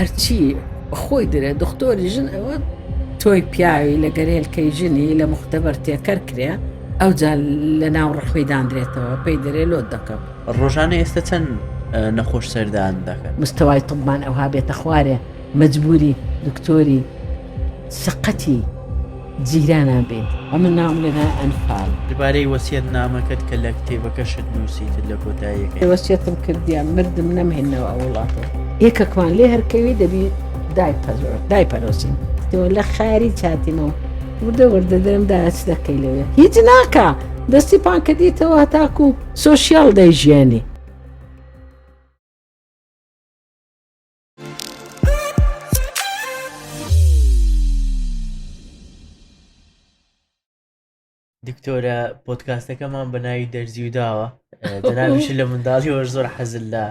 هەرچی خۆی درێ دختۆری ژن ئەوە تۆی پیاوی لە گەرێلکەی ژنی لە مختبەر تێکەر کرێ ئەو جا لە ناو ڕەخوی دانرێتەوە پێی دەرێ لۆت دەکەم ڕۆژانە ئێستا چەند نەخۆش سەردان دەکەن مستەوای تبمان ئەوها بێتە خوارێ مەجبوری دکتۆری سقەتی جیرانان بێت ئەمن ناوم لە نای ئەنفال. دبارەی وەسیەت نامەکەت کە لە کتێبەکەشت نووسیتت لە کۆتاییەکەی. وەسیەتم کردیە مردم نەمهێنەوە ئەو وڵاتە. یەکەکمان لێ هەر کەوی دەبی دایپەرۆسین. تۆ لە خاری چاتیمەوە وردە وردە دەرم دایە چ دەکەی لەوێ هیچ ناکا دەستی پان کردیتەوە هەتاکو سۆشیال دەیژیانی. دکتۆرە پۆتکاستەکەمان بە ناوی دەرزی و داوە دەناویش لە منداڵی وەش زۆر حەزل لە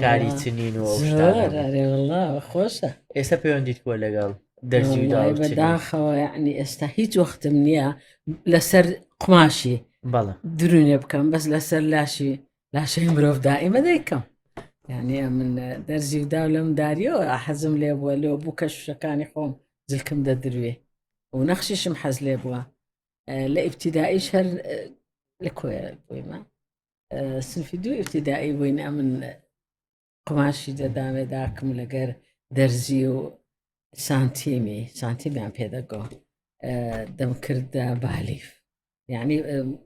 کاری چنین و خۆشە ئێستا پەیوەندیت کۆ لەگەڵ دەرزی و داوە بەداخەوە ینی ئێستا هیچ وەختم نییە لەسەر قماشی بەڵە درونێ بکەم بەس لەسەر لاشی لاشەی مرۆڤ دائیمە دەیکەم یعنی من دەرزی و داو لەم داریەوە حەزم لێ بووە لۆ بوو کە شوشەکانی خۆم جلکم دەدروێ و نەخشیشم حەز لێ بووە لە ئیبتیدایش هەر لە کۆێ بوویمە سنفی دوو ئیبتیدایی بووین ئەمن قوماشی دەدامێ داکم لەگەر دەرزی و سانتیمی سانتیمیان پێدەگۆ دەمکردە بالیف یعنی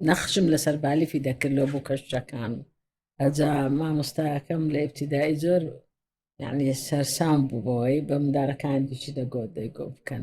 نەخشم لەسەر بالیفی دەکرد لۆ بوو کەشتەکان ئەجا مامۆستاکەم لە ئبتیدایی زۆر یعنی سەرسام بوو بەوەی بە مندارەکان دیچی دەگۆت دەیگۆ بکەن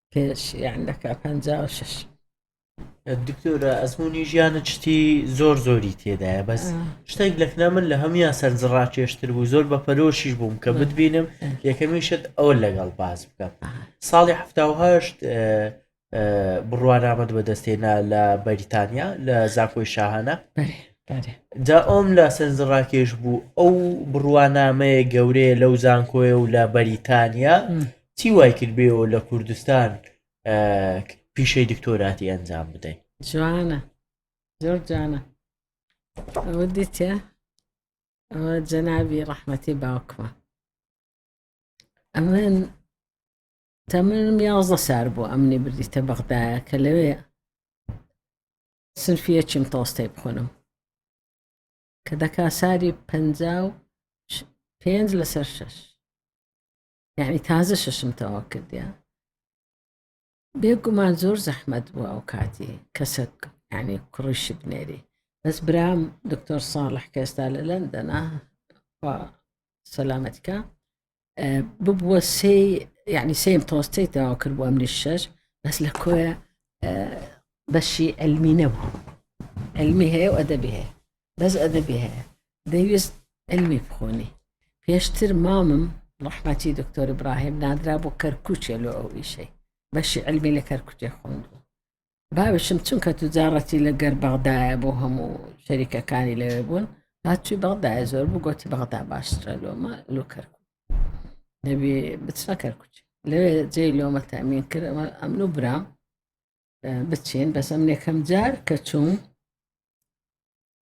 پێش یان دەکا پەنجا و شەش دکتۆرە ئەزمموی ژیانە چتی زۆر زۆری تێدایە بەس شتێک لەکنا من لە هەموان سەرنجڕاکێشتر بوو زۆر بە پەرۆشیش بووم کە بتبینم یەکەمی شت ئەوە لەگەڵ باز بکەم ساڵی هەهشت بڕوانامەت بەدەستێنا لە بەریتانیا لە زاکۆی شاهانە جا ئەوم لە سەرنجڕاکێش بوو ئەو بڕوانامەیە گەورەیە لەو زانکۆیە و لە بەریتانیا چی وای کرد بێەوە لە کوردستان پیشەی دکتۆراتی ئەنجام بدەین جوانە زۆر جوانە ئەوە دیتە ئەوە جەنابی ڕەحمەتی باوکمە ئەمن تەمنم یازدە سار بوو ئەمنی بردیتە بەغدایە کە لەوێ سنفیە چیم تۆستەی بخۆنم کە دەکا ساری پ پێنج لەسەر شش یعنی تازە شەشم تەوا کردیا بێگومان زۆر زەحمەت بوو ئەو کاتی کەسەک ینی کوڕیشی بنێری بەس برام دکتۆر ساڵح کە ئێستا لە لەندەنا سەلامەتکە ببووە سێ یعنی سێم تۆستەی تەوا کرد بۆ ئەمنی شەش بەس لە کۆیە بەشی ئەلمی نەبوو ئەلمی هەیە و ئەدەبی هەیە بەس ئەدەبی هەیە دەیویست علمی بخونی پێشتر مامم ڕەحمەتی دکتۆر ابراهیم نادرا بۆ کەرکوچێ لۆ ئەو ئیشەی بەشی علمی لە کەرکوتێ خوندو باوشم چونکە توجاڕەتی لە گەر بەغدایە بۆ هەموو شەریکەکانی لەوێ بوون هاتوی بەغدای زۆر بوو گۆتی بەغدا باشترە لۆمە لۆ کەرکوت دەبێ بچنە کەرکوچ لەوێ جێ لۆمە تامین کرد ئەمن و برام بچین بەسەم نێکەم جار کە چوون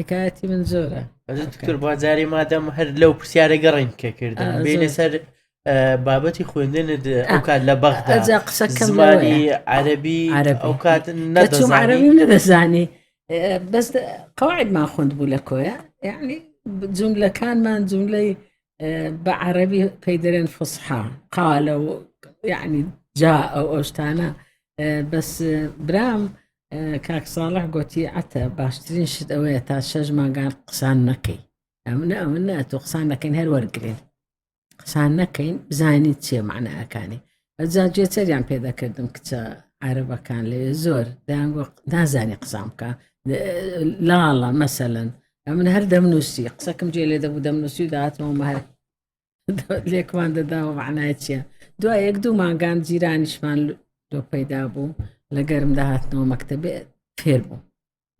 حکایەتی من زۆرە دکتۆر با جارێ مادەم هەر لەو پرسیارە گەڕین کە کردن بینە سەر بابەتی خوێندن ئەو کات لە بەغدا قسەکەمانی عەربی ئەو کات نەدەزانانی نەدەزانی بەس قواعدمان خوند بوو لە کۆیە یعنی جملەکانمان جملەی بە عەربی پێی دەرێن فسحا قالە و یعنی جا ئەو ئەوشتانە بەس برام کاک ساڵح گۆتی عەتە باشترین شت ئەوەیە تا شەش مانگان قسان نەکەی ئەمن ئەمن نە تۆ قسان نەکەین هەر وەرگین قسان نەکەین بزانیت چێ معناەکانی ئەجا گوێچەریان پێدەکردم کچە عربەکان لەوێ زۆر دەیانگۆ نازانی قسان بکە لاڵە مەسەن ئەمن هەر دەمنووسی قسەکەم جێ لێ دەبوو دەمنووسی و داهاتەوە مەهر لێکمان دەداوە معنای چییە دو یەک دوو مانگان جیرانیشمان لۆ پەیدا بوو لە گەرم داهاتنەوە مەکتتەبێ فێر بوو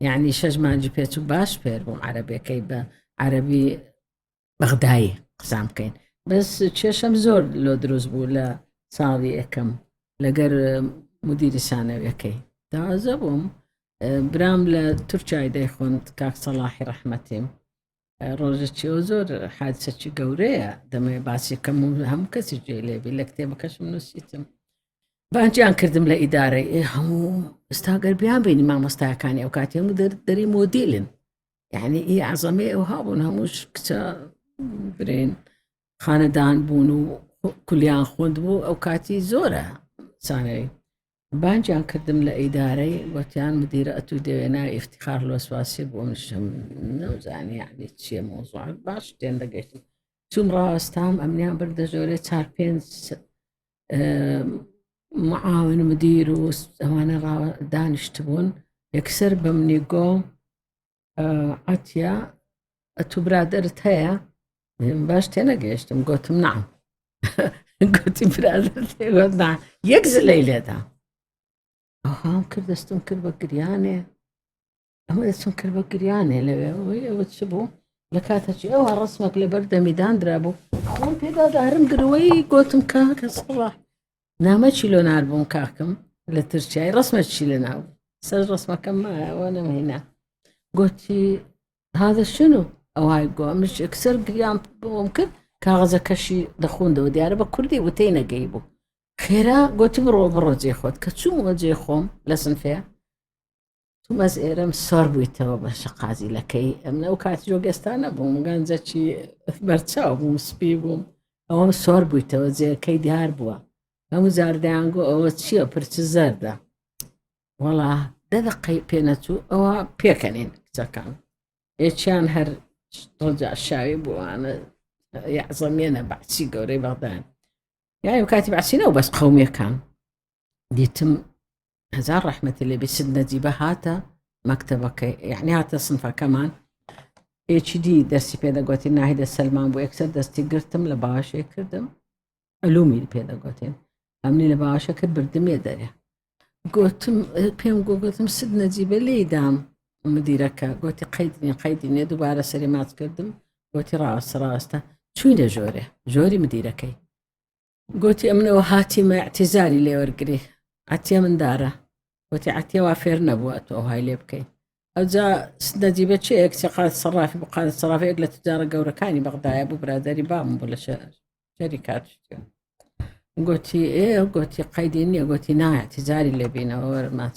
یعنی شەش مانجی پێچ و باش فێر بووم عربەکەی بە عربی بەغدایی قسان بکەین بەس کێشەم زۆر لۆ دروست بوو لە ساڵی یەکەم لەگەر مدیری سانەوەکەی دازە بووم برام لە تورکای دەیخۆند کاک سەڵاحی ڕەحمەتیم ڕۆژەکی ئەو زۆر حادسەکی گەورەیە دەمەوێت باسیەکەم و هەموو کەسی جێ لێبی لە کتێبەکەشم نووسیتم بانجیان کردم لە ئیدارەی ئێ هەموو ئستاگەر بیان بینی مامۆستاکانی ئەو کاتی هەموو دەری مۆدیلن یعنی ئی عزەمێ ئەو هابوون هەمووش کچە برێن خانەدان بوون و کولیان خوند بوو ئەو کاتی زۆرە سانەی بانگیان کردم لە ئیدارەی گۆتیان مدیرە ئەتوو دەوێ ناوی ئیفتیخار لۆسواسی بۆ منشم نەوزانی یعنی چییە مۆزوع باش تێن دەگەشت چوم ڕاستام ئەمنیان بردە ژۆرێ چار پێنج معاون مدیر و ئەوانە دانیشتبوون یەکسەر بەمنی گۆ عتیە ئەتو برادرت هەیە باش تێ نەگەیشتم گوتم نام گوتی برادرتێگوتنا یەک زلەی لێدا ئەوهام کرد دەستم کرد بە گریانێ ئەمە دەچم کرد بە گریانێ لەوێ ئەوەی ئەوە چ بوو لە کاتەچی ئەوە ڕسمەک لەبەر دەمیدان درابوو خۆم پێدادارم گرەوەی گوتم کا کەسڕە نامە چی لۆ ناربووم کاکم لە ترچای ڕسمە چی لە ناو سەر ڕسمەکەم مایەوە نەمهینا گوتی هذا شنو ئەوهای گۆ منش ئەکسەر گریان بۆم کرد کاغەزە کەشی دەخوندەوە دیارە بە کوردی وتەی نەگەی بوو خێرا گوتی بڕۆ بڕۆ جێ خۆت کە چوومەوە جێ خۆم لە سنفەیە تومەز ئێرەم سۆر بوویتەوە بە شقازیلەکەی ئەم ناو کاتی جۆگەستانە بووم گەنجەکی بەرچاو بووم سپی بووم ئەوەم سۆر بوویتەوە جێەکەی دیار بووە هەموو زاردەیانگۆ ئەوە چییە پرچ زەردە وەڵا دەدەقەی پێنەچوو ئەوە پێکەنین کچەکان ئێچیان هەر ڕجا شاوی بووانە یاعزەمێنە بەعسی گەورەی بەغدان یایم کاتی بەعسینەوە بەس قومیەکان دیتم هەزار ڕەحمەتی لێ بێ سید نەجیبە هاتە مەکتەبەکەی یعنی هاتە سنفەکەمان ئێچی دی دەستی پێدەگوتی ناهیدە سەلمان بۆ یەکسەر دەستی گرتم لە باشێ کردم ئەلومی پێدەگوتێن ئەمنی لە باشەکە بردمێ دەرێ گوتم پێم گوگوتم سد نەجیبە لێدام مدیرەکە گوتی قەیدنی قەیدینێ دووبارە سەری ماچ کردم گوتی ڕاستە ڕاستە چوینە ژۆرێ ژۆری مدیرەکەی گۆتی، ئەمن ئەوە هاتیمە ئیعتیزاری لێ وەرگری، عەتیە مندارە. گۆتی، عەتیە وا فێر نەبووە تۆ ئەوهای لێ بکەی. ئەوجا نەجیبە چێیە کچە قادر سەڕافی بوو، قادر سەڕافی یەک لە توجارە گەورەکانی بەغدایە بوو، برادەری بابم بوو لە شەری کاتشتیە. گۆتی، ئێ گۆتی قەیدی نییە، گۆتی نا ئیعتیزاری لێ بینەوە وەرە ماچ.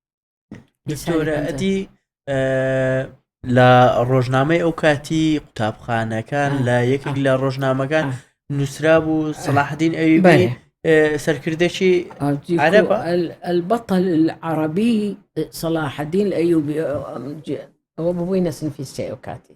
دکتۆرە ئەدی لە ڕۆژنامەی ئەو کاتی قوتابخانەکان لە یەکێک لە ڕۆژنامەکان نووسرا بوو سەلاحدین ئەوی بێ سەرکردێکی عرب البطل العربی صلاح الدین ئەیوبی ئەوە ببووی نەسنفی سێ ئەو کاتی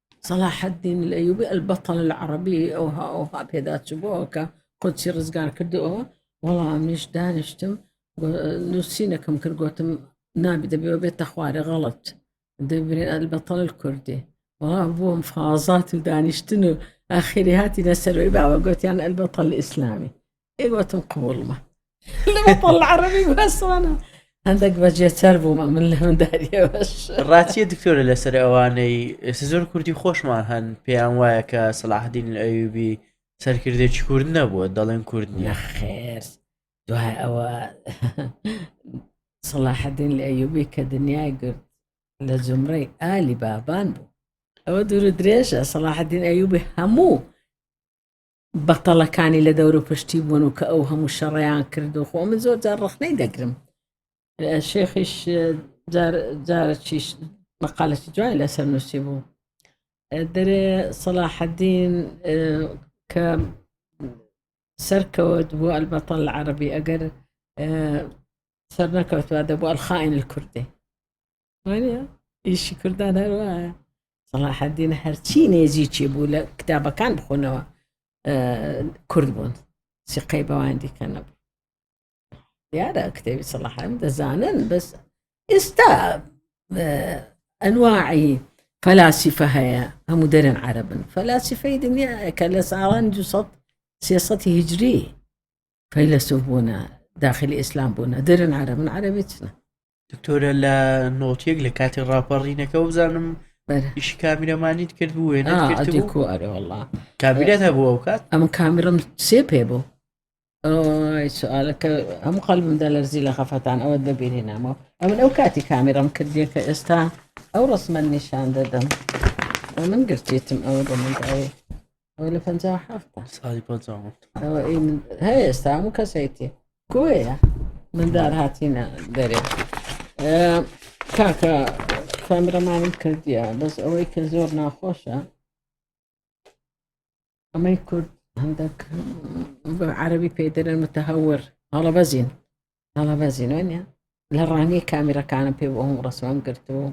صلاح الدین الایوبی البطل العربی ئەوها ئەوها پێدا چبووەوە کە قودسی ڕزگار کردەوە وەڵامیش دانیشتم نووسینەکەم کرد گوتم نابی دەبێەوە بێتە خوارە غەڵت دەبرێن ئەلبەتەڵ کوردی وڵا بووم فازات و دانیشتن و ئاخری هاتی نەسەروی باوە گوتیان ئەلبەتەڵ ئیسلامی ئێوەتم قوڵمە عربی بەسانە هەندێک بەجێتەر بوومە من لە منداریەوەش ڕاتیە دکتۆرە لەسەر ئەوانەی ئێستا زۆر کوردی خۆشمان هەن پێیان وایە کە سەلاحدین ئەوبی سەرکردێکی کورد نەبووە دەڵێن کورد نیە خێر دوای ئەوە سەلاحدین لە ئەوبی کە دنیای گرت لە جمڕی ئالی بابان بوو ئەوە دوور درێژە سەلاحدین ئەوبی هەموو بەتەڵەکانی لە دەوروپشتی بوون و کە ئەو هەموو شەڕیان کرد و خۆ من زۆر جار ڕخنەی دەگرم شێخیش جارەچیش مەقالەتی جوای لەسەر نووسی بوو دەرێ سەلاحەدین کە سەرکەوت بۆ ئەلبەتە لە عربی ئەگەر سەر نەکەوتوە دەبوو ئەلخائین کوردی ئیشی کوردان هەروە سەڵاحدین هەرچی نێزیچی بوو لە کتابەکان بخۆنەوە کورد بوون سقەی بەوان دیکە نەبوو دیارە کتێبی سەڵاحم دەزانن بەس ئێستا ئەنواعی فەلاسیفە هەیە هەموو دەرن عربن فەلاسیفەی دنیا کە لە ساڵان 300 هجری فەیلەسوف بوونە داخلی ئیسلام بوونە دەرن عربن عربی چنە دکتۆرە لە نۆتیەک لە کاتی ڕاپەڕینەکە بزانم ئیشی کامیرەمانیت کرد بوو وێنە کۆ ئەرێ وڵا کابیرەت هەبوو ئەو کات ئەم کامیرم سێ پێ بوو سوالەکە هەموو قەلمدا لەرزی لە خەفەتان ئەوە دەبیری نامەوە ئەمن ئەو کاتی کامیرم کردیە کە ئێستا ئەو ڕسممە نیشان دەدەم من گرتێتم ئەوە دەمەداێ ئەوە لە پەنجا و حەفتا ساڵی پەنجا و حەفت ئەوە ئەی من هەیە ئێستا هەموو کەسێتی کۆیە مندار هاتینە دەرێ ئێ، کاکە کامرەمانم کردیە بەس ئەوەی کە زۆر ناخۆشە ئەمەی کورد هەندێک بە عەربی پێدرن متهور هەڵە بەزین هەڵە بەزینۆنیە لە ڕانیە کامیرەکانم پێ بۆ هەموو ڕسمم گرتووە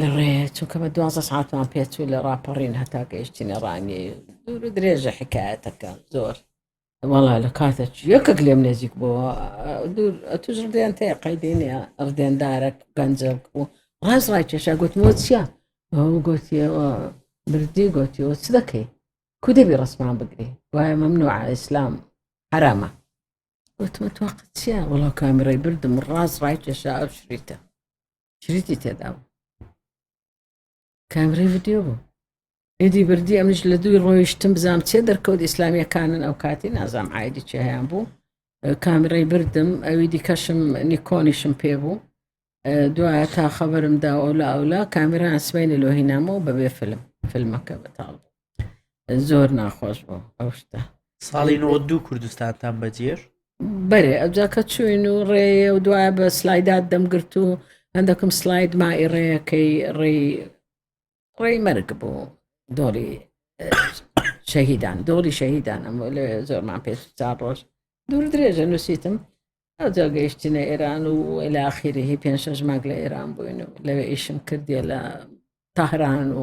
لە ڕێیە چونکە بە دوازدە ساعتمان پێچوو لە ڕاپەڕین هەتا گەیشتینە ڕانیە دوور و درێژە حکایەتەکە زۆر وەڵا لە کاتە یەکەک لێم نێزیک بووە دوور توش ڕدێن تێ قەیدینە ڕدێندارە گەنجە و ڕاز ڕای کێشا گوتمەوە چییە ئەو گوتیەوە بردی گوتیەوە چ دەکەی کو دەبی ڕسمان بگری وایە مەمنوع ئیسلام حرامە گوتمە تۆقەت چییە وڵا کامیڕی بردم ڕاز ڕای کێشا ئەو شریتە شریتی تێدا بوو کامری ڤیددیو بوو ئیدی بردی ئەمش لە دووی ڕۆیشتم بزانام چێ دەرکەوت ئیسلامیەکانن ئەو کاتی نازام ئایدی چیان بوو کامرەی بردم ئەوی دیکەشم نیکۆنیشم پێ بوو دوایە تا خەبرم دا ئەولا ئەولا کامران سبینە لۆهینامەوە بەبێ فلم فیلمەکە بەتاڵ زۆر ناخۆش بوو ئەو شتە ساڵی نۆ دوو کوردستانتان بەجێر بەێ ئەجاکە چوین و ڕێ و دوای بە سلایدات دەمگرت و هەندەکم سلاید مای ڕێەکەی ڕێی ڕێی مەرگ بوو دۆڵی شەهیدان دۆڵی شەهیدان ئەم لێ زۆرمان پێش چار ڕۆژ دوور درێژە نووسیتم ئەوجا گەیشتینە ئێران و ئەلاخیرهی پێنج شەژماگ لە ئێران بووین و لەوێ ئیشم کردیە لە تاهران و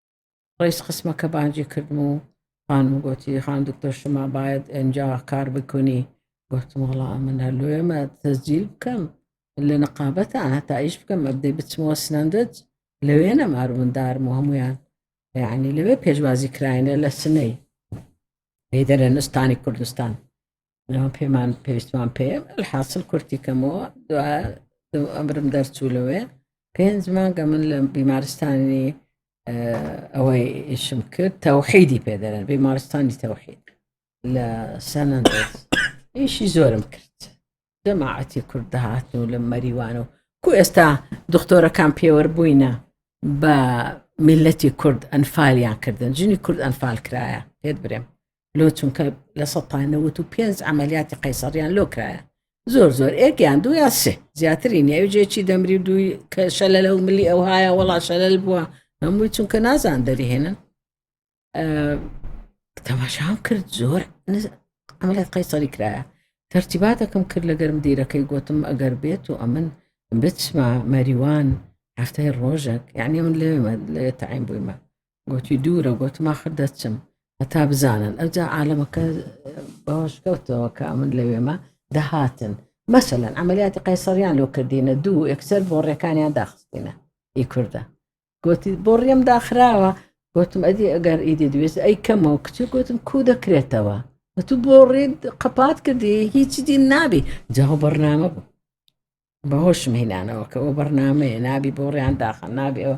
ڕیز خستمە کە بانجی کردم و خانم گوتی خان دکتۆر شما باید ئەجا کار بکنی گوتم وڵا من هەر لۆێمە تەزجیل بکەم لە نقابەتە هەتا ئیش بکەم ئەبدەی بچمەوە سنەندج لەوێ نەمار مندارم و هەمویان یعنی لەوێ پێشوازی کراینە لە سنەی هەیدەرە نستانی کوردستان ناو پێمان پێویستمان پێ حاصل کورتی کەمەوە دوا ئەمرم دەرچوو لەوێ پێنج مانگە من لە بیمارستانی ئەوەی ئیشم کرد تەوحیدی پێدەرن بیمارستانی تەوحید لە سەنەندەس ئیشی زۆرم کرد جەماعەتی کورد دەهاتن و لە مەریوان و کو ئێستا دکتۆرەکان پێوەەر بووینە بە میلەتی کورد ئەنفالیان کردن ژنی کورد ئەنفال کرایە پێت برێم لۆ چونکە لە سە تا نەوت و پێنج ئەعملیاتی قەیسەڕیان لۆ کرایە زۆر زۆر ئێکیان دوو یا سێ زیاتری نیاوجێکی دەمری و دووی کە شەلە لە و ملی ئەو هاە وڵا شەلل بووە هەمووی چونکە نازان دەریهێنن تەماشام کرد زۆر ئەمەلێت قەیسەری کرایە تەرتیباتەکەم کرد لە گەرم دیرەکەی گوتم ئەگەر بێت و ئەمن بچمە مەریوان هەفتەی ڕۆژێک یعنی من لێ لێ تایم بوویمە گۆتی، دوورە، گۆتم، ئاخر دەچم هەتا بزانن، ئەوجا عالەمەکە بەوەش کەوتەوە کە ئەمن لەوێمە دەهاتن. مەسەلەن ئەمەلیاتی قەیسەریان لۆ کردینە دوو ئەکسەر بۆ ڕێکانیان داخستینە ئی کووردە گوتی بۆ ڕێم داخراوە گوتم ئەدی ئەگەر ئیدی دوێست ئەی کەمەوە کچ گوتم کو دەکرێتەوە تو بۆ ڕێت قەپات کردی هیچی دی نابی جاو بەرنامە بوو بەهۆش مهینانەوە کە ئەو بەرنمەیە نابی بۆ ڕیان داخە نابێەوە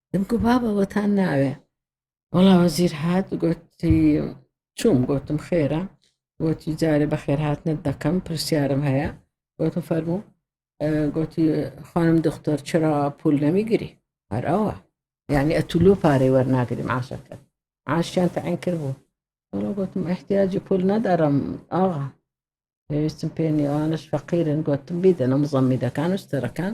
دەمگو بابە وەتان ناوێ وەڵا وەزیر هات گوتی چوم گوتم خێرە گوتی جارێ بە خێرهاتنت دەکەم پرسیارم هەیە گوتم فەرموو گوتی خانم دختر چرا پول نەمیگیری هەر ئەوە یعنی ئەتولۆ پارەی وەرناگریم عاشەکە عاشیان تەعین کرد بوو وەڵا گوتم احتیاجی پول نەدارم ئاغا پێویستم پێ نیوانش فەقیرن گوتم بیدەنە مزەمیدەکان و ستەرەکان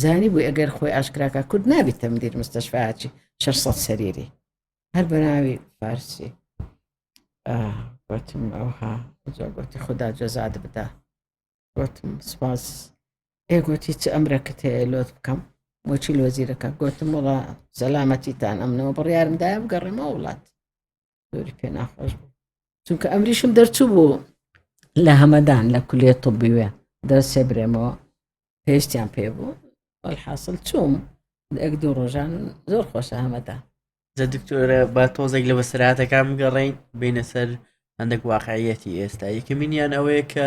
زانیبوی ئەگەر خۆی ئاشکراکە کورد نابی تەمدیر مستەشفاچی شەش سەد سەریری هەر بەناوی فارسی وتم ئەوها زۆرگوتی خدا جەزاد بدا وتم سپاس ئێگوتی چ ئەمرەکەت هەیە لۆت بکەم بۆچی لۆزیرەکە گوتم وڵا سەلامەتیتان ئەمنەوە بڕیارمداە بگەڕێمە وڵات زۆری پێ ناخۆش بوو چونکە ئەمریشم دەرچوو بوو لە هەمەدان لە کولێ طبیوێ دەرسێ برێمەوە پێشتیان پێ بوو حاصل چوم ئەک دوو ڕۆژان زۆر خۆشە هەمەدا جە دکتۆرە با تۆزێک لە بەسراتەکان بگەڕین بینە سەر هەندێک واقعەتی ئێستا یەکەمینیان ئەوەیە کە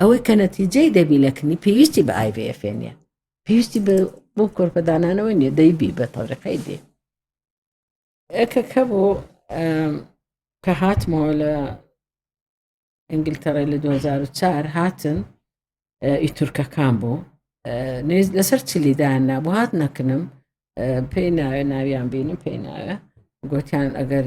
ئەوەی کە نەتیجەی دەبی لە کنی پێویستی بە IVF نیە پێویستی بۆ کۆرپەدانانەوە نیە دەیبی بە تەوریقەی دێ ئەکەکە بۆ کە هاتمەوە لە ئەنگلتەڕی لە 2004 هاتن ئی تورکەکان بوو نێز لەسەر چلیدان نابوو هات نەکنم پێی ناوێ ناویان بینم پێی ناوێ گوتیان ئەگەر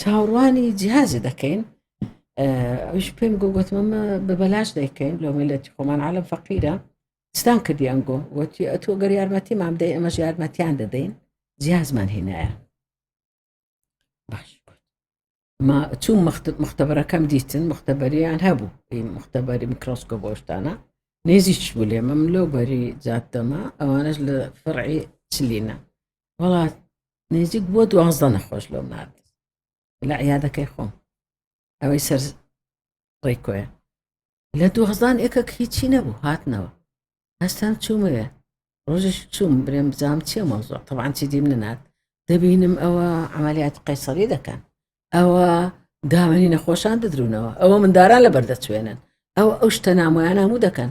چاوڕوانی جیازی دەکەین ئەوش پێم گۆ گوتمەمە بە بەلاش دەیکەین لۆ ملەتی خۆمان عالم فەقیرە ستان کردیان گۆ وتی ئەتۆ گەر یارمەتی مام دەی ئەمە یارمەتیان دەدەین جیازمان هێنایە باش ما چوو مختبەرەکەم دیتن مختبەریان هەبوو مختبەری میکرۆسکۆ بۆشتانە نێزیش بولێ مەم لەو بەری جاتەمە ئەوانش لە فڕعی چلینە وڵات نێزیک بۆ دوازدە نەخۆش لەو نرد لە عیادەکەی خۆم ئەوەی سەر ڕێکۆیە لە دوهزان ئێکەک هیچی نەبوو هاتنەوە هەستان چوومەوێ ڕۆژش چووم برێم بزانام چیە مەوزۆ تەوان چی دیم نەنات دەبینم ئەوە عملیات قەیسەری دەکەن ئەوە داوێنی نەخۆشان دەدرونەوە ئەوە منداران لە بەردەچوێنن ئەو ئەو شتە نامۆیان هەموو دەکەن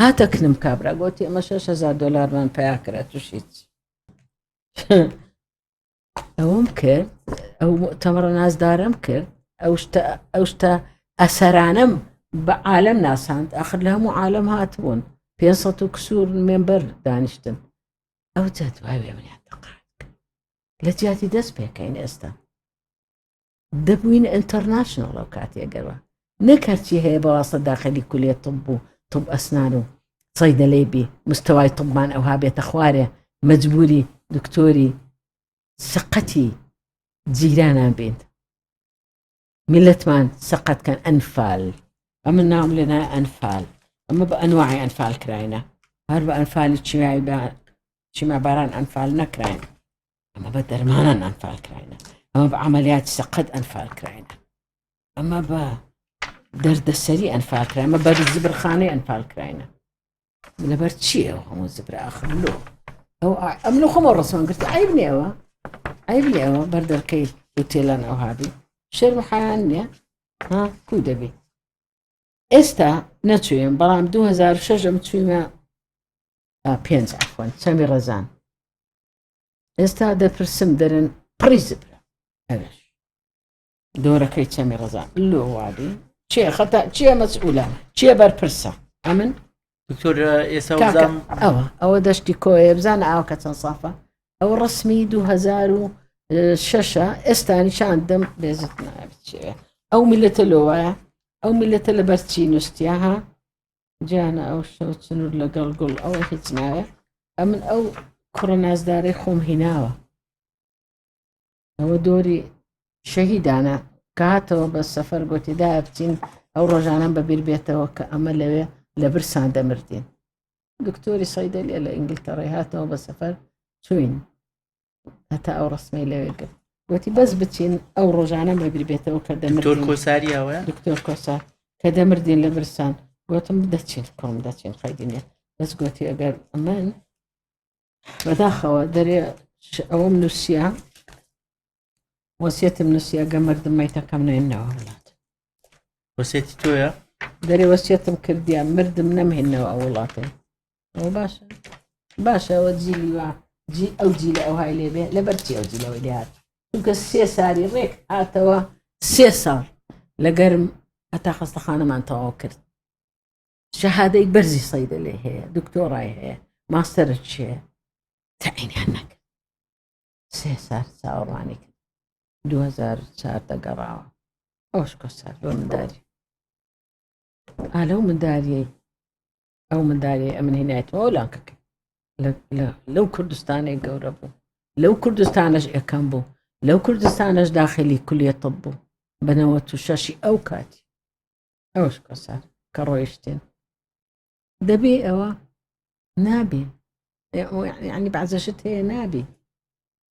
هاتە کنم کابرا گۆتی ئەمە 6هزار دلارمان پیا کرا توش هیچ ئەوم کرد ئەو تەمەڕە نازدارم کرد ئەو شتە ئەو شتە ئەسەرانم بە عالم ناساند ئەخر لە هەموو عالم هاتبوون پێ و کسور مێمبەر دانیشتن ئەو جادواێ منیان دەقات لە جیاتی دەست پێکەین ئێستا دەبووین ئینتەرناشناڵ ئەو کاتێ گەروە نەک هەرچی هەیە بەواسە داخلی کولێ طب بوو طب ئەسنان و سەیدەلەی بی مستەوای طبمان ئەوها بێتە خوارێ مەجبوری دکتۆری سقەتی جیرانان بین میلەتمان سەقەت کەن ئەنفال ئەمە ناوم لێنا ئەنفال ئەمە بە ئەنواعی ئەنفال کراینە هەر بە ئەنفالی چیای بە چیما باران ئەنفال نەکراین ئەمە بە دەرمانان ئەنفال کراینە ئەمە بە عملیات سەقەت ئەنفال کراینە ئەمە بە دەردەسەری ئەنفال کرامە بەر زبرخانەی ئەنفال کراینە لەبەر چیە هەموو زبرا ئاخر لۆ ئەو ئەم لە خۆمە ڕسمان گرت ئای بنێەوە ئای بنێەوە بەردەرکەی وتێلان ئەو هابی شێر محیان نیە ها کو دەبی ئێستا نەچوێن بەڵام 2006 ئەم چوینە پێنج ئەخۆن سەمی ڕەزان ئێستا دەپرسم دەرن پڕی زبرە ئەوێش دۆرەکەی چەمی ڕزان لۆ وادی چێ خەتا چیە مەسئولە چیە بەرپرسە ئەمن دکتۆر ئێستا ئەوە ئەوە دەشتی کۆیە بزانە ئاوکە چەند سافە ئەو ڕسمی 2006 ئێستانی شاندم بێزت ناوچێ ئەو میلەتە لۆوایە ئەو میلەتە لە بەرچی نووسیا ها جانە ئەو شەو چنور لەگەڵ گوڵ ئەوە هیچ نایە ئەمن ئەو کوڕە نازدارەی خۆم هیناوە ئەوە دۆری شەهیدانە کاتەوە بە سەفەر گوتیدا بچین ئەو ڕۆژانم بەبیر بێتەوە کە ئەمە لەوێ لە برسان دەمردین دکتۆری سەیدەلیە لە ئینگلتەڕی هاتەوە بە سەفەر چوین هەتا ئەو ڕسمی لەوێ گرت وتی بەس بچین ئەو ڕۆژانە مەبیر بێتەوە کە دەمەۆر کۆساریەوە دکتۆر کۆسار کە دەمردین لە برسان گوتم دەچین کۆم دەچین خەیدینە بەس گوتی ئەگەر ئەمن بەداخەوە دەرێ ئەوەم نووسە وەسیەتم نووسە گە مردم مەیتەکەم نێنەوە وڵات وەسێتی تۆە دەرێ وەسیەتم کردیان مردم نەمهێنەوە ئەو وڵاتێ باش باشە ئەوە جیلی وە جی ئەو جی لە ئەو های لێبێ لە بەرچی ئەو جیلەوەی لێهات چونکە سێ ساری ڕێک هاتەوە سێ ساڵ لە گەرم هەتا خەستەخانەمان تەواو کرد شەهادەی بەرزی سەیدە لێ هەیە دکتۆڕای هەیە ماستەرە چێ تەعینیان نەکرد سێ سار چاوەڕوانی کرد 2004 دەگەڕاوە ئەوش کۆسار بۆ منداری ئالە و منداریەی ئەو مندالی ئەمن هینایەتەوە لاکەکە لەو کوردستانێک گەورە بوو لەو کوردستانش ئەەکەم بوو لەو کوردستانش داخلی کولیە تەب بوو بەنەوە تو شەشی ئەو کاتی ئەوش کەسە کە ڕۆیشتێن دەبێ ئەوە نابێ ینی بازەشت هەیە نابێ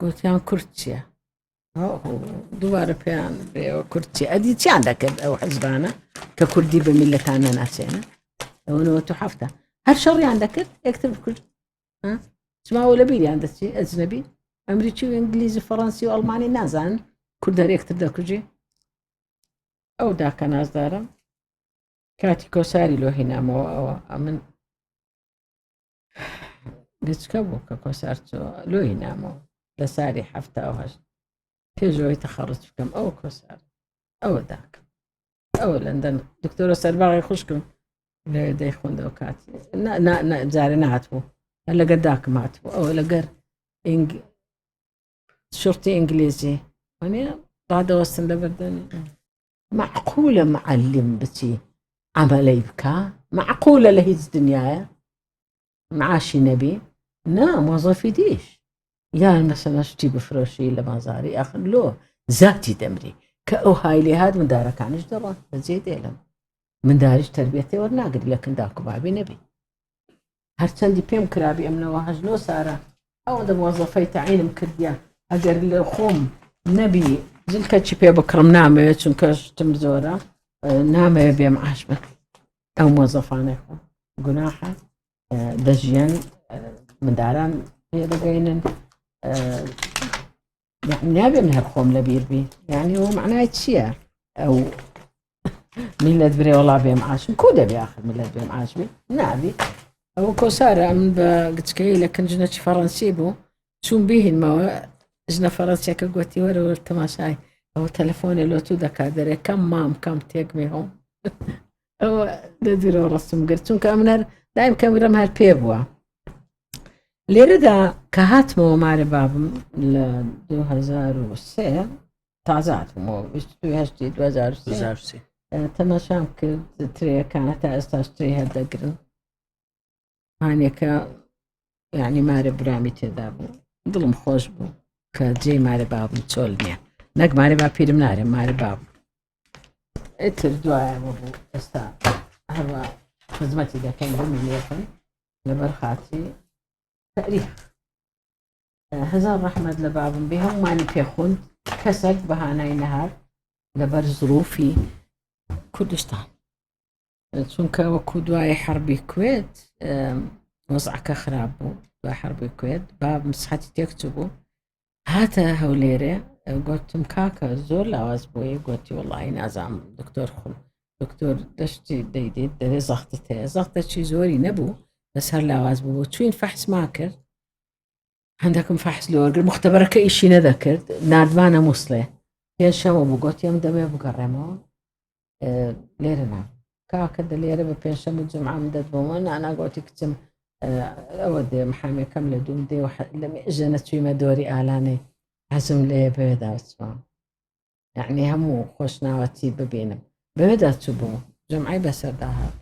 گوتیان کورد چییە دووارە پێیان بێەوە کورتی ئەدی چیان دەکرد ئەو حەزبانە کە کوردی بە میلەتان نەناسێنە ئەوەوە تو هەفتە هەر شەڕیان دەکرد یەکتر بکرد چماوە لە بیریان دەچی ئەجنەبی ئەمریکی و ئینگلیزی فەڕەنسی و ئەڵمانی نازان کوردەر یەکتر دەکوژی ئەو داکە نازدارم کاتی کۆساری لۆهینامەوە ئەوە ئەمن گچکە بوو کە کۆسار چۆ لۆی نامەوە لە ساری هەفتا و هەشت پێشەوەی تەخەڕت بکەم ئەو کۆسار ئەوە داکەم ئەوە لەندەن دکتۆرە سەرباغی خوشکم لە دەی خوندەوە کات جارێ نهات بوو لەگەر داکم هات بوو ئەوە لەگەر شرتی ئینگلیزی وانە ڕادەوەستن لە بەردەنی مەعقولە معەلم بچی عەمەلەی بکا مەعقولە لە هیچ دنیایە معاشی نەبی نا مۆزەفی دیش یان مەسەلە شتی بفرۆشی لە بازاری ئەخر لۆ زاتی دەمری کە ئەو هایلی هات مندارەکانیش دەڕۆن بەجێ دێلم منداریش تربێتێ وەرناگری لە کندا کوبابی نەبی هەرچەندی پێم کرابی ئەم لەوە هەژنۆ سارە ئەوەندە مۆزەفەی تەعینم کردیە ئەگەر لە خۆم نەبی جلکە چی پێ بکڕم نامەوێت چونکە شتم زۆرە نامەوێ بێم ئاش بکە ئەو مۆزەفانێک گوناحە دەژیان منداران پێ دەگەینن یعنی نابێ من هەر خۆم لە بیر بی یعنی ئەوە معنای چییە ئەو میلەت برێ وڵا بێم عاشم کو دەبێ آخر میلەت بێم عاشمی نابی ئەوە کۆسارە من بە گچکەی لە کنجنەچی فەڕەنسی بوو چوون بهینمەوە ژنە فەڕەنسیەکە گوتی وەرەوە تەماشای ئەوە تەلەفۆنێ لۆ تو دەکات دەرێ کەم مام کەم تێک مێ هەم ئەوە دەدرەوە ڕستم گرت چونکە ئەم نەر دایم کەمرم هەر پێ بووە لێرەدا کە هاتمەوە مارە بابم لە 2023 تازە هاتمەوە 2023 تەماشام کرد ترەکانە تا ئێستا شتری هەردەگرن هانێکە یعنی مارە برامی تێدا بوو دڵم خۆش بوو کە جێ مارە بابم چۆل نییە نەک مارە با پیرم نارێ مارە باب ئەتر دوایەوە بوو ئێستا هەروە خزمەتی دەکەین بمی لێکن لەبەر خاتی تاریخ هزار ڕحمد لە بابم بێ هەمومانی پێخون کەسەک بەهانای نەهار لەبەر زروفی کوردستان چونکە وەکو دوای حربی کوێت وەزعەکە خراپ بوو دوای حربی کوێت با مسحەتی تێکچ بوو هاتە هەولێرێ گوتم کاکە زۆر لاواز بۆیە گوتی وڵی نازام دکتۆر خۆم دکتۆر دەشتی دەیدێت دەێ زەختت هەیە زەختە چی زۆری نەبوو بەسەر لاواز بوو چوین فەحسما کرد هەندەکم فەحس لۆرگر مختبەرەکە ئیشی نەدەکرد نردوانە مووسڵێ پێنجشەمە بوو گوت ئەم دەمێ بگەڕێمەوە لێرە نا کاکە دە لێرە بە پێنجشەم و جمعام دەت بۆمە ناناگۆتی کچم ئەوە دێ محامەکەم لە دوم دێ و لە ژەنە چویمە دۆری ئالانێ حەزم لێ بەوێدا بچوە یعنی هەموو خۆشناوەتی ببینم بەوێدا چوو بوو جمعی بەسەردا هات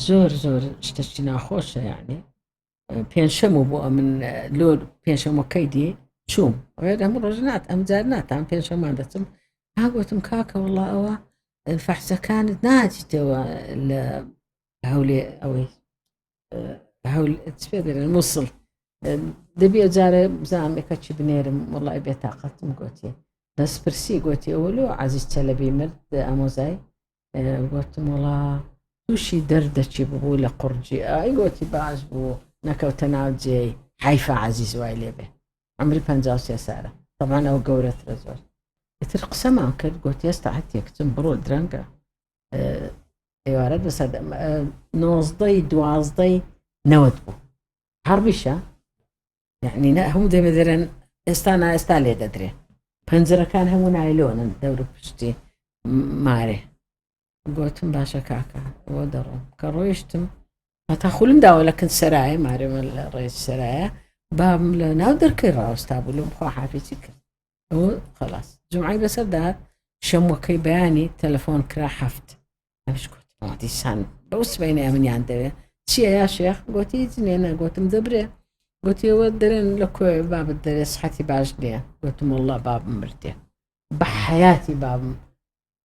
زۆر زۆر شتەشتی ناخۆشە یعنی پێنجشەم و بۆ ئەمن لۆ پێنجشەمەکەی دی چوم ئەوێت ئەم ڕۆژ نات ئەم جار ناتان پێنجشەمان دەچم هاگوتم کاکە وڵا ئەوە فەحسەکانت ناچیتەوە لە هەولێ ئەوەی پێ دەێن مووسڵ دەبێ جارە بزانێکە چی بنێرم وڵای بێتاقەتم گوتی دەستپرسی گوتی ئەوە لۆ عزیز چەلەبی مرد ئامۆزای گوتم وڵا تووشی دەردەچی ببوو لە قڕجی ئای گۆتی باش بوو نەکەوتە ناو جێی حیفا عزیز وای لێبێ ئەمری پ سێ سارە تەمان ئەو گەورەترە زۆر ئیتر قسەمان کرد گوتی ئێستا هەتێکچم بڕۆ درەنگە ئێوارە بە سەد نۆزدەی دوازدەی نەوەت بوو هەڕبیشە یەعنی نە هەموو دەمێدەرێن ئێستا نا ئێستا لێ دەدرێ پەنجرەکان هەموو نایلۆنن دەور پشتی مارێ گوتم باشە کاکە بۆ دەڕۆم کە ڕۆیشتم هەتا خولم داوە لە کن سەرایە مارێمە لە ڕێز سەرایە بابم لە ناو دەرکەی ڕاوستا بوو لەم خوا حافێتی کرد ئەوە خلاص جمعی لەسەر داات شەموەکەی بەیانی تەلەفۆن کرا هەفت ئەشکوتیسان بەو سبینە منیان دەوێت چیە یا شێخ گوتی جنێ نەگوتم دەبرێ گوتیەوە دەرێن لە کۆێ بابت دەرێ سحەتی باش نییە گوتم والله باب مردێ بە حیاتی بابم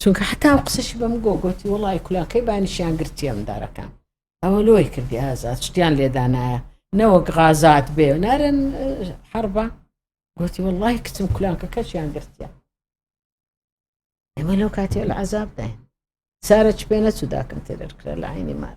چونکە حتا و قسەشی بەم گۆ گۆتی وڵی کولاکەی بانیشیان گرتی ئەم دارەکان ئەوە لۆی کردی ئازاد شتیان لێدانایە نەوەک غازات بێ نارن حربە گوتی وڵی کچم کولانکە کەچیان گرتیە ئێمە لەو کاتی لە عذاب داین سارە چ پێ نەچوو داکن تێرەر کرا لە عینی مار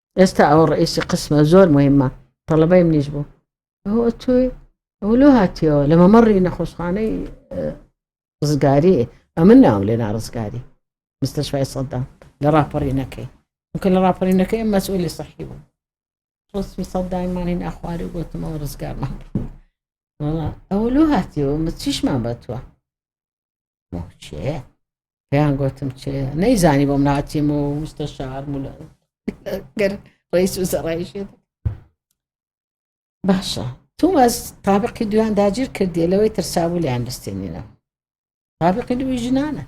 ئێستا ئەوە ڕئیسی قسمە زۆر مهمە تەڵەبەی منیش بوو ئەوە تۆی ئەو لۆ هاتیەوە لە مەمەڕی نەخۆشخانەی ڕزگاری ئەمن ناوم لێ ناڕزگاری مستەشوای سەدام لە ڕاپەڕینەکەی وکە لە ڕاپەڕینەکەی مەسئولی سەحی بوو ڕسمی سەدایمانین ئەخواری گوتمەوە ڕزگارمان ئەوە لۆ هاتیەوە مە چیشمان بە توە موچەیە پێیان گوتم چێ نەیزانی بۆم ناچێم و مستە شار مولە گەر ڕیس و زەڕایشێت باشە تومەز تابقی دویان داگیر کردی لەوەی ترسابوو لەیان بستێنینە تابقی دوی ژنانە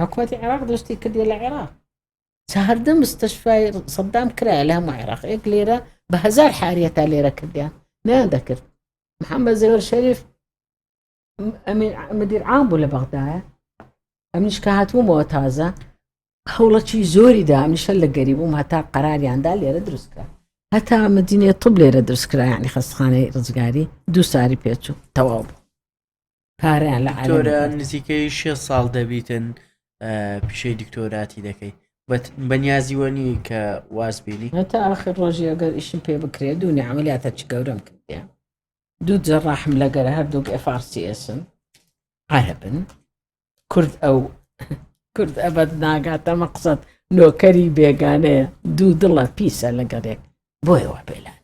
حکوومەتی عێراق دەستی کردی لە عێراق چاردە مستەشفای سەدام کرا لە هەموو عێراق ئێک لێرە بە هزار حاریە تا لێرە کردیان نیان دەکرد محەممە زێوەر شەریف مدیر عام بوو لە بەغدایە ئەمنیش کە هاتوومەوە تازە هەوڵەکی زۆری دا ئەمیشە لە گەری بووم هەتا قەراریاندا لێرە دروستکە هەتا مدینێ طب لێرە دروستکرایانی خەستخانەی ڕزگاری دوو ساری پێچوو تەواو بوو کاریان لە ئەلۆرە نزیکەی شێ ساڵ دەبیتن پیشەی دکتۆراتی دەکەی بە نیازیوەنی کە واز بینی هەتا ئاخر ڕۆژی ئەگەر ئیشم پێ بکرێت دوو نیعملیاتە چ گەورەم کردیان دوو جەڕاحم لە گەرە هەردووک FRCSن عەرەبن کورد ئەو کورد ئەبەت ناگاتە مەقسەد نۆکەری بێگانەیە دوو دڵە پیسە لەگەڵێک بۆیەوە پێلان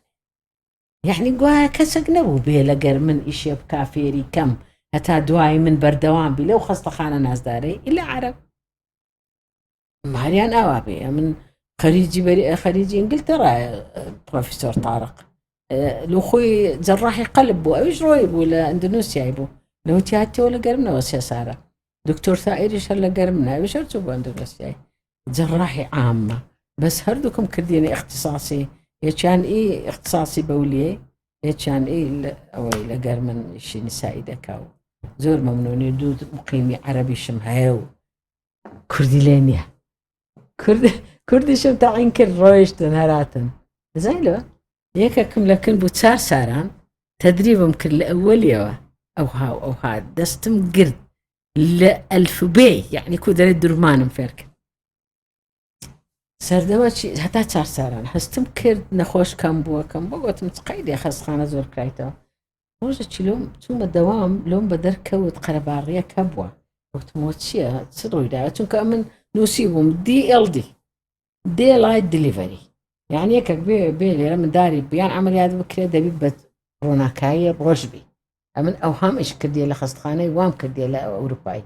یعنی گوایە کەسێک نەبوو بێ لەگەر من ئیشێ بکا فێری کەم هەتا دوای من بەردەوام بی لەو خەستەخانە نازدارەی ئیلا عرب ماریان ئاوا بێ من خەریجی بەری خەریجی ئینگلتەرایە پرۆفیسۆر تارق لە خۆی جەڕاحی قەلب بوو ئەوش ڕۆی بوو لە ئەندنووسیای بوو لەو تیاتەوە لە گەرمنەوە سێ سارە دکتۆر سائریش هەر لە گەرم ناوی شەر چوو بۆ ئەندنووسیای جەڕاحی عامە بەس هەردووکم کردیێنە اختصاصی یەکیان ئی اختصاصی بەولیە یەکیان ئەوەی لە گەرمن شینی سایی دەکاو زۆر مەمنونی دوو مقیمی عەربیشم هەیە و کوردی لێ نییە کوردیشم تاعین کرد ڕۆیشتن هەراتن بزای لە یەکەکم لە کن بوو چار ساران تدریبم کرد لە ئەوەلیەوە ئەو هاو ئەو هاات دەستم گرت لە ئەلفبێ یعنی کو دەێت درمانم فێرکرد سەردەوە هەتا چارساران هەستم کرد نەخۆش کەم بووەکەم بۆ گوتم قەی دێ خەستخانە زۆر کرایتەوە ڕۆژە چیلۆم چوومە دەوام لۆم بە دەرکەوت قەرەباڕیە کە بووە وتمۆ چییە چ ڕوویدا چونکە من نووسی بووم دیLD دێ لای دلیڤەری یان یەکەک بێ بێ لێرە منداری بیان ئەمەلیات بکرێ دەبی بە ڕۆناکاییە ڕۆژبی ئەمن ئەو هەمش کردی لە خستخانەی وام کردی لە ئەوروپایی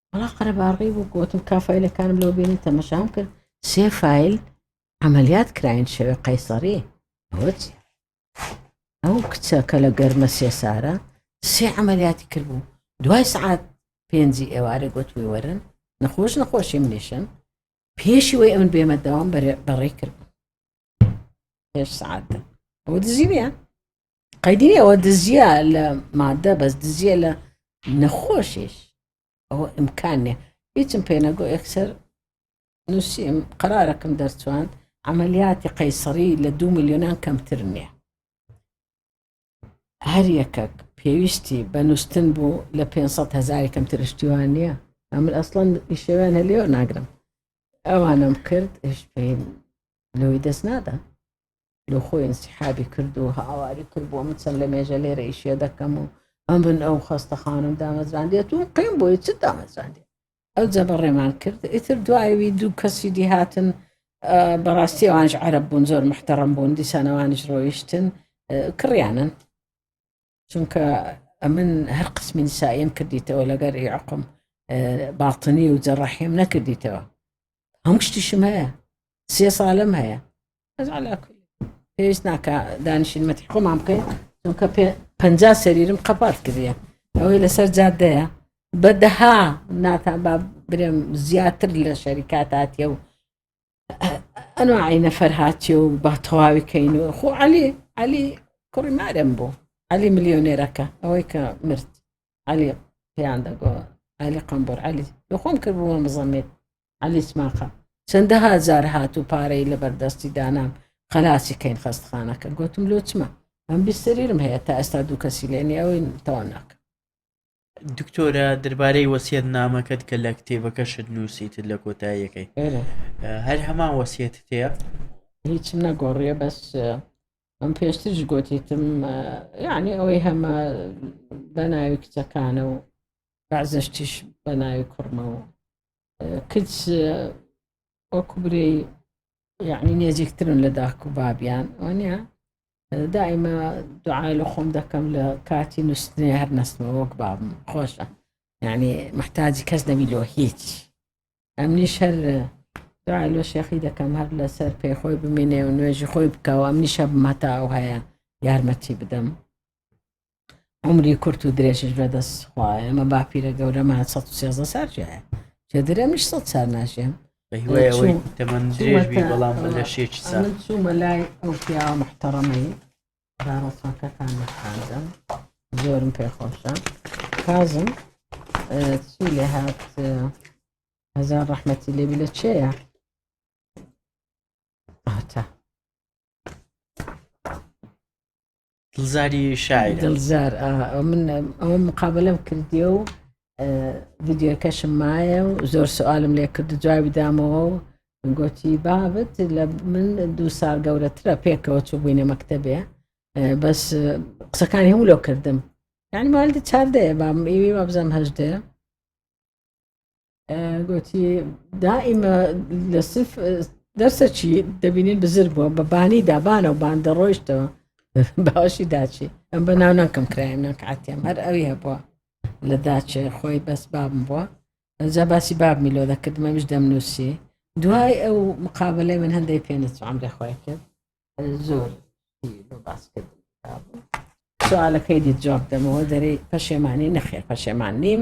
وڵا قەرەباڕی بوو گوتم کافایلەکانم لەو بینی تەمەشام کرد سێ فیل عملیات کراین شەوێ قەیسەڕی ئەوە چی ئەو کچە کە لە گەرمە سێسارە سێ عملیاتی کردبوو دوای سعات پێنجی ئێوارە گوتوی وەرن نەخۆش نەخۆشی منیشم پێشی وی ئەمن بێمە داوام بەڕێ کرد پێش سعاتە ئەوە دزی نیە قەیدی ئەوە دزیە لە مادە بەس دزیە لە نەخۆشیش ئەوە ئیمکانێ هیچم پێنەگۆ ئەکسەر نووسیم قرارەکەم دەرچوان ئەعملیاتی قەیسەری لە دو میلیۆنان کەمتر نییە هەر یەکەک پێویستی بە نووسن بوو لە 500 هزاری کەمتر شتیوان نییە ئەمن ئەسڵەن ئیشەوێن هەلێ ناگرم ئەوانم کرد هش پێ لەوەی دەست نادا لۆ خۆی انسحابی کرد و هاواری کرد بۆ من چەند لە مێژە لێرە ئیشێ دەکەم و ئەمن ئەو خەستە خانم دامەزراندێت و قیم بۆی چ دامەزراندێت ئەو جە بە ڕێمان کرد ئیتر دوایوی دوو کەسی دی هاتن بەڕاستی ئەوانش عرب بوون زۆر محتەڕم بوون دیسانەوانش ڕۆیشتن کڕیانن چونکە ئەمن هەر قسمی نساییم کردیتەوە لەگەر عقم باتنی و جەڕەحیم نەکردیتەوە هەموو شتیشم هەیە سێ ساڵم هەیە پێویست ناکە دانیشینمەتی خۆمان بکەین چونکە پ سەریرم قەپات کردە ئەوەی لەسەر جادەیە بەدەها ناتان با برێم زیاتر لە شەریکاتاتە و ئەنواعی نەفەر هاتی و با تەواوی کەین و خۆ علی علی کوڕی مارم بوو علی ملیۆنێرەکە ئەوەی کە مرد علی پێیان دەگۆ علی قمبر علی دخۆم کردبووە مزەمێت علی سماقە چەندە هاجار هات و پارەی لە بەردەستی دانام خەلاسی کەین خەستخانەکە گوتم لۆچمە ئەم بیسەریرم هەیە تا ئێستا دوو کەسی لێنی ئەوەی تەوا ناکە دکتۆرە دەربارەی وەسیەت نامەکەت کە لە کتێبەکەشت نووسیتت لە کۆتاییەکەی هەر هەمان وەسیەت تێ هیچم نەگۆڕیە بەس ئەم پێشترش گوتیتم یعنی ئەوەی هەمە بە ناوی کچەکانە و بازشتیش بە ناوی کوڕمەوە کچ وەکوبرەی یعنی نێزیکترن لە داک و بابیان وانە دائمە دوعای لە خۆم دەکەم لە کاتی نووسنی هەر نستمە وەک بابم خۆشە یعنی محتاجی کەس نەبی لۆ هیچ ئەمنیش هەر دوعای لۆ شێخی دەکەم هەر لەسەر پێ خۆی بمینێ و نوێژی خۆی بکەوە ئەمنیشە بمەتا ئەو هەیە یارمەتی بدەم عومری کورت و درێژش بەدەست خوایە ئەمە باپیرە گەورەمان 113 سار ژایە چێ درێمیش سە سار ناژێم بەڵام لە شێکی سا چوومە لای ئەو پیاوە محتەڕەمەی داڕۆسەکەتان خانزم زۆرم پێ خۆشە کازم چی لێ هات هەزار ڕەحمەتی لێبی لە چێە ئاتا دڵزاری شاعر دڵزار من ئەوە مقابلم کردیە و ڤیددیوەکەشم مایە و زۆر سوالم لێ کرد جوابی دامەوە و گوتی بابت لە من دوو سال گەورەترە پێکەوە چوو بووینە مەکتتەبێ بەس قسەکانی هەموو لەو کردم یعنی مالدە چاردەیە بام ئێوی وابزانام هەشدەیە گوتی دائیمە لە سف دەرسە چی دەبینین بزر بووە بە بانی دابانە و باندە ڕۆیشتەوە باشی داچی ئەم بە ناو ناکەم کرایم ناکاتێم هەر ئەوی هەبووە لە داچێ خۆی بەس بابم بووە ئەجا باسی باب میلۆ دەکردمەویش دەمنووسی دوای ئەو مقابلەی من هەندێک پێ نەچوام دەخوای کرد زۆر باس کرد سوالەکەی دی جواب دەمەوە دەری پەشێمانی نەخێر پەشێمان نیم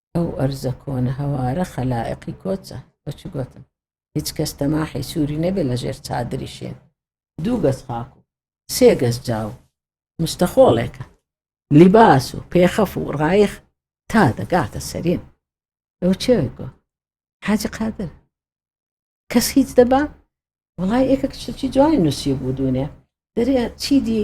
ئەو ئەرزە کۆنە هەوارە خەلائقی کۆچە بەچ گۆتم هیچ کەس تەماحی سووری نەبێ لە ژێر چادری شێت دوو گەز خاک و سێ گەز جاو مستەخۆڵێکە لیباس و پێخەف و ڕایخ تا دەگاتە سەرین ئەو چێوێک گۆ حاجی قادر کەس هیچ دەبا وڵای ئێکە کچی جوانی نووسی بوو دوونێ دەرێ چی دی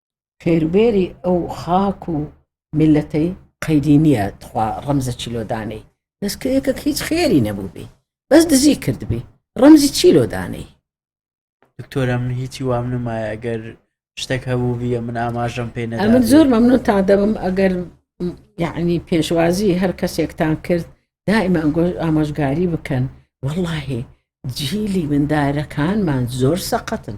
فێروبێری ئەو خاک و میلەتەی قەیدی نییە تخوا ڕەمزە چیلۆدانەی دەست کە یەکەک هیچ خێری نەبووبی بەس دزی کردبی ڕەمزی چیلۆدانەی دکتۆرە من هیچی وام نمایە ئەگەر شتێک هەبوو بیە من ئاماژەم پێ نە من زۆر مەمنون تا دەبم ئەگەر یعنی پێشوازی هەر کەسێکتان کرد دائما ئەنگۆش ئامۆژگاری بکەن واللهی جیلی مندارەکانمان زۆر سەقەتن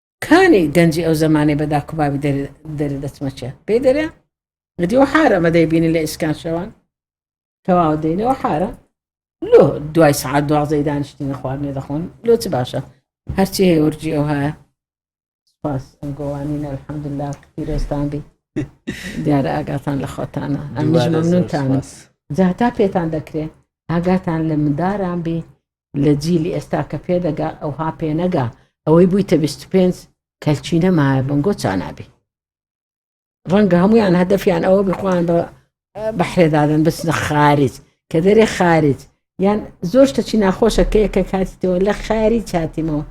کانی گەنجی ئەو زەمانەی بە داکوباوی دەرێ دەچمەچێ پێی دەرێ گەدیەوە حارە مەدەی بینی لە ئیسکان شەوان کەواوە دەینەوە حارە لۆ دوای سعات دوازەی دانیشتنی خواردنێ دەخۆن لۆ چ باشە هەرچی هەیە ورجی ئەو هەیە سپاس ئەم گۆوانینە الحەمدللا پیرۆستان بی دیارە ئاگاتان لە خۆتانە ئەمژمەمنونتان جا تا پێتان دەکرێت ئاگاتان لە منداران بی لە جیلی ئێستا کە پێدەگا ئەوها پێنەگا ئەوەی بوویتە 25 کەلچی نەمایە بنگۆ چانابی ڕەنگە هەمویان هەدەفیان ئەوە بخوان بە بەحرێدادن بچنە خارج کە دەرێ خارج یان زۆر شتەچی ناخۆشە کە یەکە کاتیتەوە لە خاری چاتیمەوە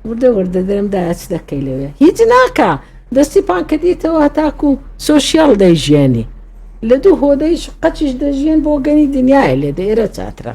وردە وردە دەرم داچ دەکەی لەوێ هیچ ناکە دەستی پانکەدیتەوە هەتاکو و سۆسیال دەیژیانی لە دوو هۆدەیش قەچیش دەژیێن بۆ گەنی دنیای لێ دەێرە چاترە